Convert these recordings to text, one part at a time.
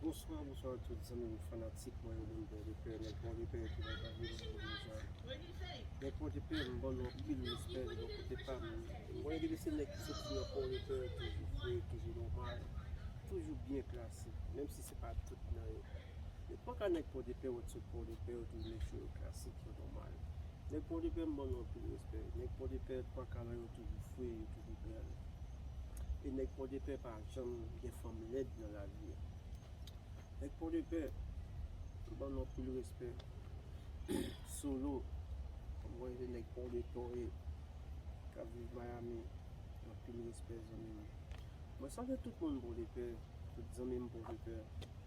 Bonswa bonswa a tout zanmi m fanatik mwen yo moun bondye pè nèg bondye pè ki nan lavi m yo deja nèg bondye pè m bannou anpil respè de bò kote pa m m konnen depi se nèg ki soti nan pòdepè toujou fre toujou nòmal toujou byen klase menm si se pa tout nan yo. Yo paka nèg pòdepè wè ti pòdepè yo tou vle cho yo klasik yo nòmal nèg pòdepè m ban nou anpil respè nèg pòdepè pankaran yo toujou fre yo toujou bèl e nèg pòdepè pa janm gen fanm lèd nan lavi yo nèg pòdepè m ban nou anpil respè solo m wè se nèg pòdepè w ye kap viv miami anpil respè zanmi m mwen salye tout moun pòdepè tout zanmi m pòdepè.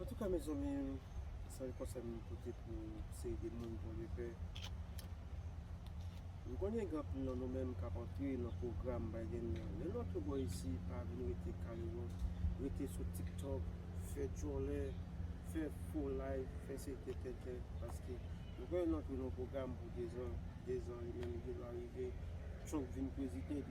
Antouka mezanmi sèl konsèy m pote pou seri de moun bon Dye fè m konnen gen anpil nan nou menm kap antre nan pwogram Biden nan lè nou antre bò isi pa vin rete kale wòl rete sou tiktok fè djòlè fè fo live fè seri de tenten paske m konnen nou antre nan yon pwogram pou 2 zan 2 zan li menm li gen dwa rive Trump vin prezidan.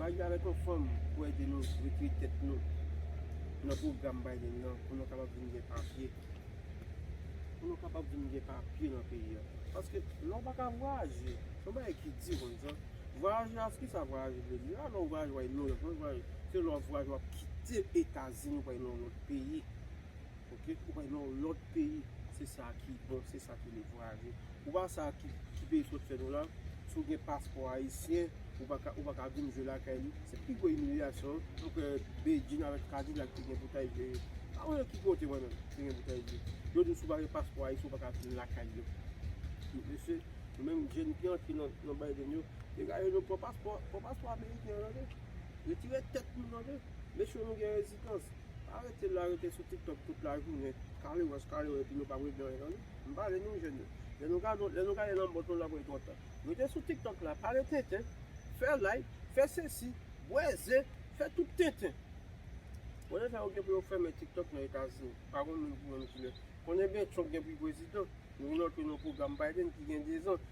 Mari avèk yon fanm pou ede nou retire tèt nou nan pwogram Biden nan pou nou kapab vin gen papye. Pou nou kapab vin gen papye nan peyi a. Paske lè ou pa ka vwayaje, se yon bagay ki di konn sa. Vwayaje a, kisa vwayaje vle di? A lè ou vwayaje w'al nan yon lòt peyi, se lè ou vwayaje w'ap kite Etazini pou al nan yon lòt peyi. Ok ou bay non lot peyi se sa ki bon se sa ki le vwaze ou pa sa ki peyi sot fè nou la si ou gen paspò ayisyen ou paka ou paka vin jwe lakay li se pi gwo imilyasyon ou kwè bedjine avèk kadilak te gen pou ta jwe pa wè nan ki kote mwen menm te gen pou ta jwe yo di w si w pa gen paspò ayisyen ou paka vin lakay yo mesye nou menm jèn ki antre nan Biden yo dega yo nou pran paspò pran paspò ameriken an tande retire tèt nou tande mesye nou gen rezistans. Arete la rete sou tiktok tout la jounen kale wòch kale wòch epi nou pap regle anyen tande m pale nou jèn yo lè nou gadon lè nou gade lanmòt nou lap wè twò ta rete sou tiktok la pale tenten fè like fè sesi bwè ze fè tout tenten konnen sa yo gen pou yo fèmen tiktok nan etazini pa konn moun pou moun kilè konnen bètchonk gen pou l prezidan nou gen nan tro nan pwogram biden ki gen 2 zan